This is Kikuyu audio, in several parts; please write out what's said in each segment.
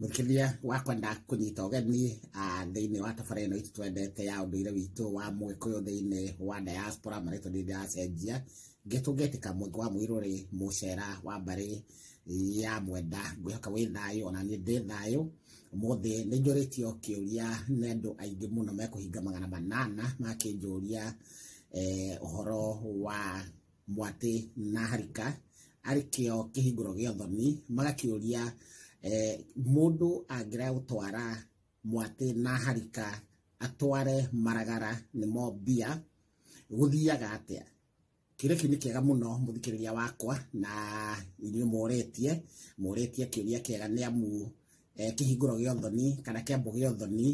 mũkĩria wa kwenda kũnyita ũgeni thĩinĩ wa tabara ĩno itũ twendete ya ũndũire witũ wa mũgĩkũyũ thĩinĩ wa diaspora marĩtwa nĩ ndĩracenjia ngĩtũngĩtĩka mweke wa mũirũrĩ mũcera wa mbarĩ ya mwenda ngwĩhoka wĩ thayũ ona niĩ ndĩ thayũ mũthĩ nĩ njũrĩtio kĩũria nĩ andũ aingĩ mũno mekũhinga magana manana makĩnjũria ũhoro wa mwatĩ na harika arĩ kĩo kĩhingũro gĩa ũthoni magakĩũria eh, mũndũ angĩra gũtwara mwatĩ na harika atware maragara nĩmo mbia gũthiaga atĩa kĩrĩa kĩu nĩ kĩega mũno mũthikĩrĩria wakwa na inyuĩ mũretie mũretie kĩũria kĩega nĩ amu eh, kĩhingũro gĩa ũthoni kana kĩambo gĩa ũthoni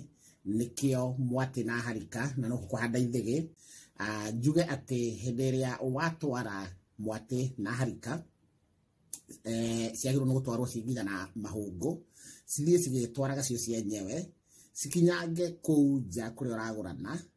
nĩkĩo mwatĩ na harika na no kũhanda ithĩgĩ Ah, njuge atĩ hĩndĩ ĩrĩa watwara mwatĩ na harika eh, ciagĩrĩirwo nĩ gũtwarwo cigitha na mahũngũ cithiĩ cigĩtwaraga cio cienyewe cikinyange kũu nja kũrĩa ũragũrana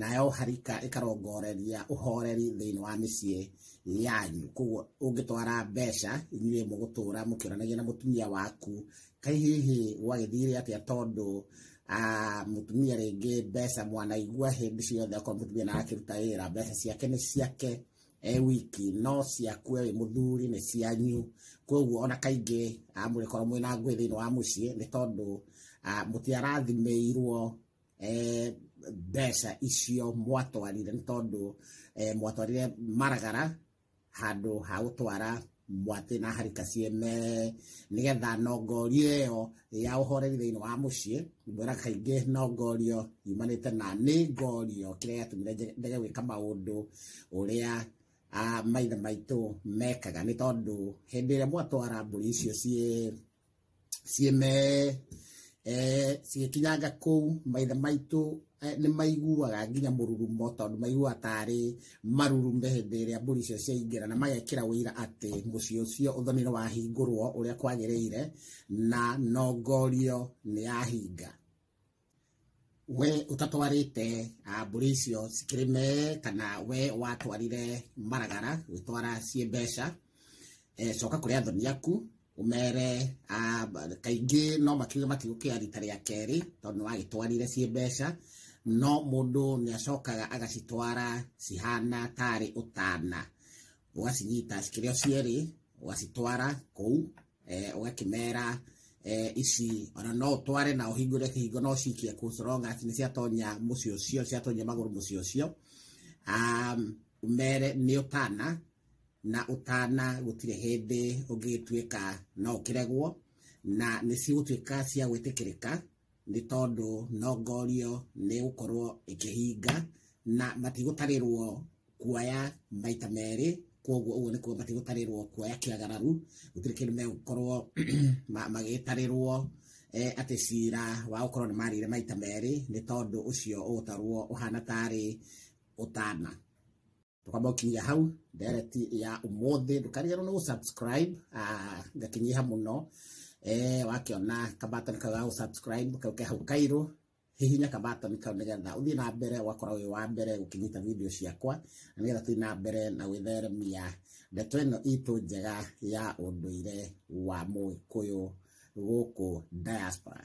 nayo harika ĩkarongoreria ũhoreri thĩinĩ wa mĩciĩ yanyu koguo ũngĩtwara mbeca inyuĩ mũgũtũra mũkĩonanagia na mũtumia waku kai hihi gwagĩthire atĩa tondũ ah, mũtumia rĩngĩ mbeca mwanaigua hĩndĩ ciothe akorwo mũtumia na akĩruta wĩra mbeca ciake nĩ ciake e wiki no ciaku e wĩ mũthuri nĩ cianyu koguo ona kaingĩ ah, mũrĩkorwo mwĩna ngũĩ thĩinĩ wa mũciĩ nĩ tondũ ah, mũtiarathimĩirwo eh, mbeca icio mwatwarire nĩ tondũ eh, mwatwarire maragara handũ ha gũtwara mwatĩ na harika ciene nĩgetha nongori ĩyo ya ũhoreri thĩinĩ wa mũciĩ mwĩra kaingĩ nongorio yumanĩte na nĩ ngorio kĩrĩa gĩatũmire ndege gwĩka maũndũ ũrĩa ah, maithe maitũ mekaga nĩ tondũ hĩndĩ ĩrĩa mwatwara mbũri icio ciĩ cieme eh, cigĩkinyanga kũu maithe maitũ eh, nĩ maiguaga nginya mũrurumo tondũ maiguaga tarĩ marurume hĩndĩ ĩrĩa mbũri icio ciaingĩra na magekĩra ũira atĩ mũciĩ ũcio ũthoni nĩ wahingũrwo ũrĩa kwagĩrĩire na nongorio nĩ yahinga we ũtatwarĩte ah, mbũri icio cikĩrĩme kana we watwarire maragara gwĩtwara ciĩ mbeca eh, coka kũrĩ athoni aku ũmere ah, ba- kaingĩ no makiuge matigũkĩra rita rĩa kerĩ tondũ nĩwagĩtwarire ciĩ mbeca no mũndũ nĩacokaga agacitwara cihana tarĩ ũtana ũgacinyita cikĩrĩ o cierĩ ũgacitwara kũu eh, ũgakĩmera eh, ici ona no ũtware na ũhingũre kĩhingo no cikie kũcoronga atĩ nĩ ciatonya mũciĩ ũcio ciatonya magũrũ mũciĩ ũcio um, ũmere nĩ ũtana na ũtana gũtirĩ hĩndĩ ũngĩgĩtuĩka no ũkĩregwo na nĩ cigũtuĩka cia gwĩtĩkĩrĩka nĩ tondũ no ngorio nĩ gũkorwo ĩkĩhinga na matigũtarĩrwo kuoya maita merĩ koguo ũguo nĩ kuga matigũtarĩrwo kuoya kĩagararu gũtirĩ kĩndũ megũkorwo ma- magĩtarĩrwo eh, atĩ cira wa gũkorwo nĩ marĩire maita merĩ nĩ tondũ ũcio ũgũtarwo ũhana tarĩ ũtana tũkamba gũkinyia hau ndereti ya ũmũthĩ ndũkariganĩrwo nĩ gũsubscribe ah, ngakinyiha mũno eh, wakĩona kabatoni kau ga gũsubscribe kau ke hau kairũ hihinya kabatoni kau nĩgetha ũthiĩ na mbere ũgakora wĩ wa mbere gũkinyita video ciakwa na nĩgetha tũthiĩ na mbere na gwĩtheremia ndeto ĩno itũ njega ya ũndũire wa mũgĩkũyũ gũkũ diaspora